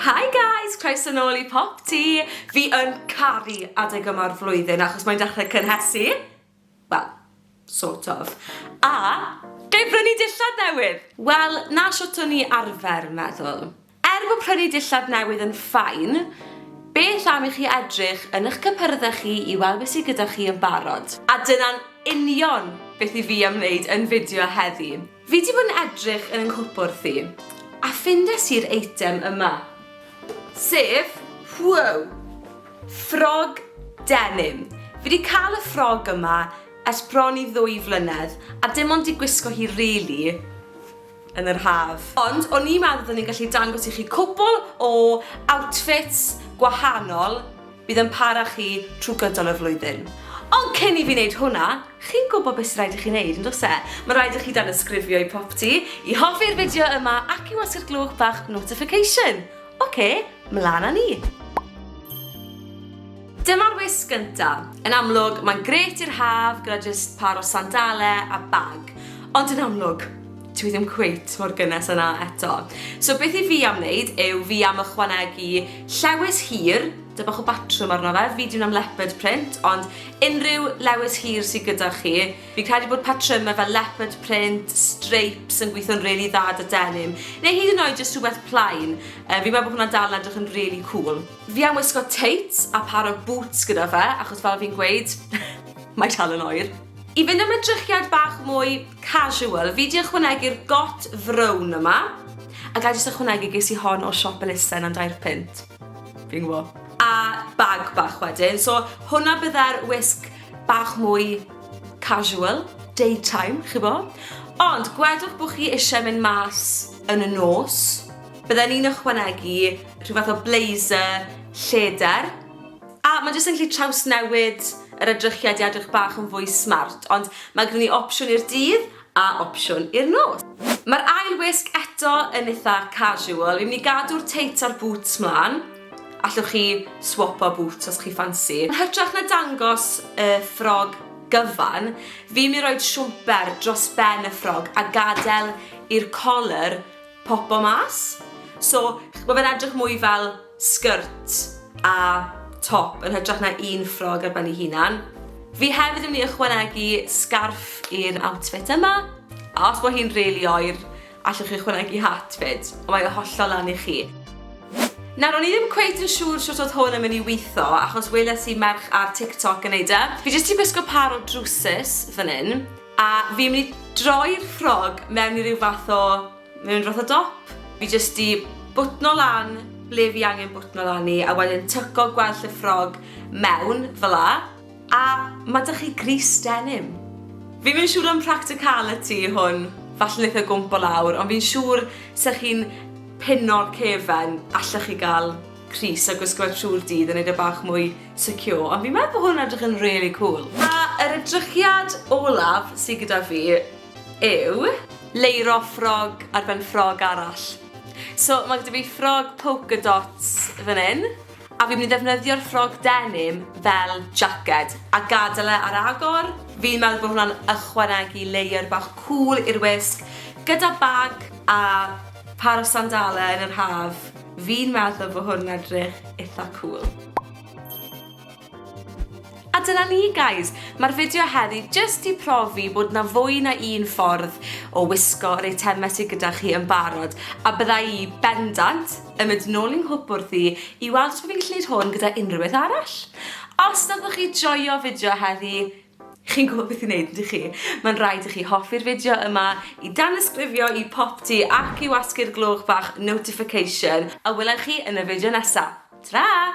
Hi guys! Croeso nôl i Pop Ti! Fi yn caru adeg yma'r flwyddyn achos mae'n dechrau cynhesu. Wel, sort of. A, ga i brynu dillad newydd? Wel, na shwt o'n i arfer meddwl. Er bod prynu dillad newydd yn fine, beth am i chi edrych yn eich cypyrdde chi i weld beth sydd gyda chi yn barod? A dyna'n union beth i fi ymwneud yn fideo heddi. Fi di bod yn edrych yn yng nghwpwrdd i, a ffindes i'r eitem yma. Sef, whoa! Ffrog denim. Fi di cael y ffrog yma ers bron i ddwy flynedd, a dim ond di gwisgo hi rili yn yr haf. Ond o'n i'n meddwl bod ni'n gallu dangos i chi cwpwl o outfits gwahanol, Bydd yn para chi trwy gydol y flwyddyn. Ond cyn i fi wneud hwnna, chi'n gwybod beth sy'n rhaid i chi wneud, yn dos e? Mae'n rhaid i chi danysgrifio i Propty, i hoffi'r fideo yma ac i wasgu'r glwch bach notification. OK, mlaen â ni! Dyma'r wisg gyntaf. Yn amlwg, mae'n grêt i'r haf gyda jyst pâr o sandalau a bag. Ond yn amlwg, Dw i ddim cweit mor gynnes â 'na eto. So beth i fi am wneud yw fi am ychwanegu llewys hir, 'da bach o batrwm arno fe, fi 'di wneud am leopard print, ond unrhyw lewys hir sy gyda chi. Fi'n credu bod patrymau fel leopard print, stripes yn gweithio'n rili dda 'da denim, neu hyd yn oed jyst rhywbeth plain, yy fi'n meddwl bod hwnna'n dal yn edrych yn rili cŵl. Fi am wisgo tights a par o bŵts gyda fe, achos fel fi'n gweud, mae dal yn oer. I fynd am edrychiad bach mwy casual, fi 'di ychwanegu'r got frown yma, a ga' i jyst ychwanegu ges i hon o siop elusen am dair punt. Fi'n gwbo. A bag bach wedyn, so hwnna bydde'r wisg bach mwy casual, daytime, chi'bo'? Ond gwedwch bo' chi isie mynd mas yn y nos, bydden i'n ychwanegu rhyw fath o blazer lleder, A mae jyst yn gallu trawsnewid yr edrychiad i edrych bach yn fwy smart, ond mae gyda ni opsiwn i'r dydd a opsiwn i'r nos. Mae'r ail wisg eto yn eitha casual, fi'n mynd i gadw'r tights a'r boots mlan, allwch chi swopo boots os chi ffansi. Yn hytrach na dangos y ffrog gyfan, fi'n mynd i roid siwmper dros ben y ffrog a gadael i'r colur popo mas. So, ma' fe'n edrych mwy fel skirt a top yn hytrach na un ffrog ar ben ei hunan. Fi hefyd yn mynd i ychwanegu sgarff i'r outfit yma. A os bo hi'n rili oer, allwch chi ychwanegu hat 'fyd, ond mae o hollol lan i chi. Nawr, o'n i ddim cweit yn siŵr shwt odd hwn yn mynd i witho, achos weles i merch ar TikTok yn neud e. Fi jyst 'di gwisgo pâr o drwsus fan 'yn. A fi'n mynd i droi'r ffrog mewn i ryw fath o, mewn ryw fath o dop. Fi jyst di bwtno lan ble fi angen bwtno lan i a wedyn tyco gwell y ffrog mewn fel 'a. A ma' 'da chi grys denim. Fi'm yn siŵr am practicality hwn, falle neith e gwmpo lawr, ond fi'n siŵr 'se chi'n pino'r cefen allech chi ga'l crys a gwisgo fe trw'r dydd a neud e bach mwy Tokyo, ond fi'n meddwl bod hwn yn edrych yn rili cwl. A yr edrychiad olaf sy gyda fi yw. Leiro ffrog ar ben ffrog arall. So ma' gyda fi ffrog polka dots fan hyn, a fi'n mynd i ddefnyddio'r ffrog denim fel jacket, a gadael e ar agor. Fi'n meddwl bod hwnna'n ychwanegu layer bach cwl i'r wisg, gyda bag a pâr o sandale yn yr haf. Fi'n meddwl bo hwn yn edrych itha cwl. A dyna ni guys! Mae'r fideo heddi jyst i profi bod na fwy na un ffordd o wisgo yr eitemau sy gyda chi yn barod, a bydda i bendant yn mynd nôl i'n nghwp wrthi i weld os bo fi'n gallu neud hwn gyda unrhyw beth arall. Os nathoch chi joio fideo heddi, Chi'n gwybod beth i wneud, ydych chi? Mae'n rhaid i chi hoffi'r fideo yma, i danysgrifio i popty ac i wasgu'r gloch bach notification, a welai chi yn y fideo nesaf. Ta-ra!